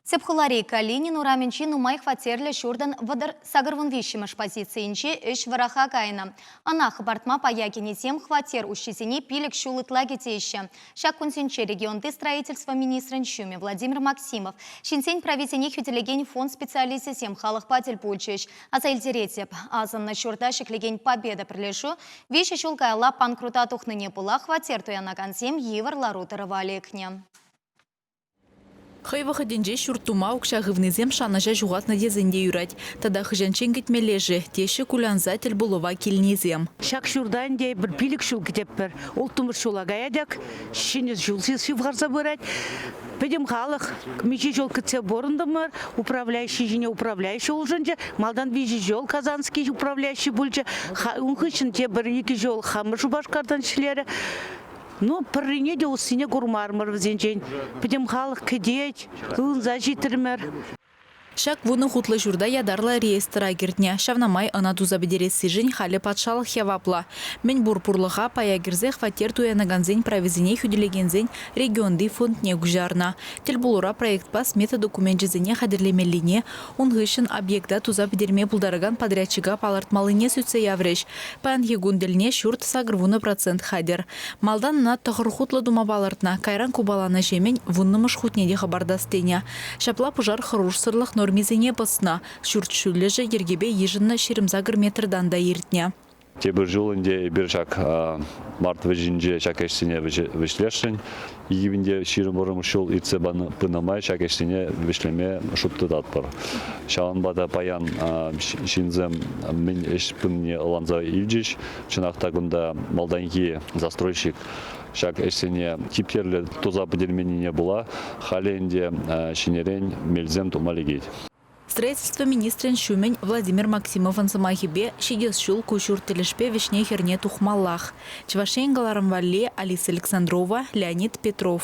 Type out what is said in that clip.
Тӗп хулари Калинин урамӗнчи нумай хваттерлӗ ҫуртӑн вӑтӑр сакӑрвун виҫҫӗмӗш позицийӗнче ӗҫ вӑраха кайнӑ. Ӑна хӑпартма пая кӗнисем хваттер уҫҫисене пилӗк ҫул ытла кӗтеҫҫӗ. Ҫак кунсенче регионти строительство министрӗн ҫумӗ Владимир Максимов, ҫынсен прависене хӳтӗлекен фонд специалисчӗсем халӑхпа тӗл пулчӗҫ. Аса илтеретӗп, асӑннӑ ҫурта ҫӗклекен Победа пӗрлешӳ виҫӗ ҫул каялла панкрута тухнине пула хваттер туянакансем йывӑр лару-тӑрӑва лекнӗ. Хӑй вӑхӑтӗнче ҫурт тума укҫа хывнисем шанӑҫа ҫухатнӑ тесен те юрать. Тата хӑҫанччен кӗтмелле-ши, теҫҫӗ кулянса тӗлпулӑва килнисем. Ҫак ҫурта ӗнтӗ эпир пилӗк ҫул кӗтетпӗр. Улттӑмӗш ҫула каятӑк. Ҫӗнӗ ҫул ҫывхарса пырать. Пӗтӗм халӑх миҫе ҫул кӗтсе пурӑнтӑмӑр, управляющи ҫине управляющи улшӑнчӗ. Малтан виҫӗ ҫул Казанский управляющи пулчӗ. Ун хыҫҫӑн тепӗр икӗ ҫул хамӑр Шупашкартан ӗҫлерӗ. Ну, пӗррине те уссине курмарӑмӑр вӗсенчен. Пӗтӗм халӑх кӗтет, ывӑнса ҫитрӗмӗр. Ҫак вунӑ хутлӑ ҫурта ятарлӑ реестра кӗртнӗ. Ҫавна май ӑна туса пӗтерессишӗн халӗ патшалӑх яваплӑ. Мӗнпур пурлӑха пая кӗрсе хваттер туянакансен прависене хӳтӗлекенсен регионти фондне куҫарнӑ. Тӗлпулура проектпа смета докуменчӗсене хатӗрлемеллине, Ун хыҫҫӑн объекта туса пӗтерме пултаракан подрядчика палӑртмаллине сӳтсе яврӗҫ. Паянхи кун тӗлне ҫурт сакӑр вунӑ процент хатӗр. Малтан ӑна тӑхӑр хутлӑ тума палӑртнӑ, кайран купаланӑҫемӗн вуннӑмӗш хутне те хӑпартас тенӗ. Ҫапла пушар хӑрушсӑрлӑх нормисене пӑснӑ, ҫурт ҫӳллӗшӗ йӗркепе йышӑннӑ ҫирӗм-сакӑр метртан та иртнӗ. Тепӗр ҫул ӗнтӗ эпир ҫак март вӗҫӗнче ҫак ӗҫсене вӗҫлесшӗн. Икӗ пин те ҫирӗм вӑрӑмӗш ҫул иртсе пынӑ май ҫак ӗҫсене вӗҫлеме шут тытатпӑр. Ҫавӑнпа та паян ҫынсем мӗн ӗҫ пынине ӑнланса илчӗҫ. Чӑнах та кунта малтанхи застройщик ҫак ӗҫсене типтерлӗ туса пӗтерменнине пула халӗ ӗнтӗ ҫинӗрен мелсем тума лекет. Строительство министрӗн ҫумӗн Владимир Максимовӑн сӑмахӗпе, ҫитес ҫул ку ҫурт тӗлӗшпе вӗҫне-хӗрне тухмаллах. Чӑваш Ен кӑларӑм валли, Алиса Александрова, Леонид Петров.